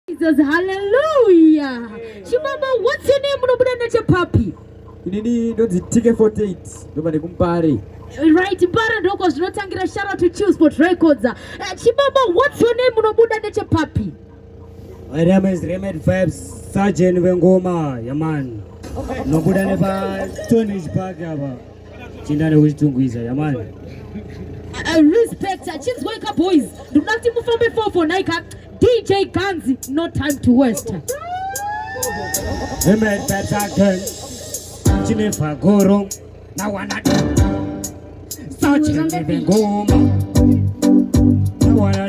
Jesus, hallelujah. Chimama, what's your name? Unobuda nechepapi? Inini ndonzi TK48 ndobva nekuMpare. Right, Mpare ndoko zvinotangira shout out to Chillspot Records. Uh, Chimama, what's your name? Unobuda nechepapi? My name is Remedy Vibes, Sergeant Vengoma, Yaman. Unobuda nepa Stone Ridge Park apa. Chinda nekuzvitungwiza yamani. I respect achinzwa ika boys. Ndikuda kuti mufambe 4 for naika DJ Ganzi no time to waste. Amen tataken. Chine fagoro na wana. Sachi ngoma. Na wana.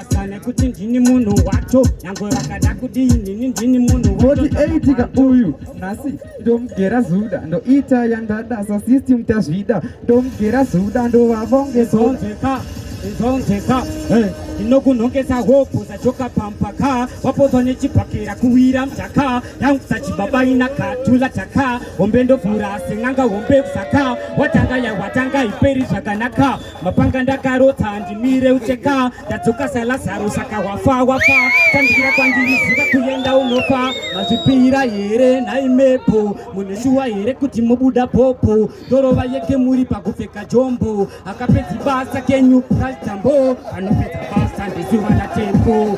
Kana kuti ndini munhu wacho nyango rakada kudii nini ndini munhu woti eitika uyu nhasi ndomugera zuda ndoita yandada sa system tazvida ndomugera zuda ndovavonge zonzeka izonzeka ndinokunhongesa hopo zachoka pampaka wapodzwa nechibhakera kuwira mtaka yangusa chibaba ina katula taka hombe ndovhura asi n'anga hombe kusaka watanga yawatanga iperi zvakanaka mapanga ndakarota handimire ucheka ndadzoka salazaro saka wafa wafa tandikira kwandiriziva kuenda unofa mazvipira here nhai mepo muneshuwa here kuti mubuda popo ndorova yeke muri pakupfeka jombo akapedzi basa kenyu praitambo anopedza basa ndizuva natembo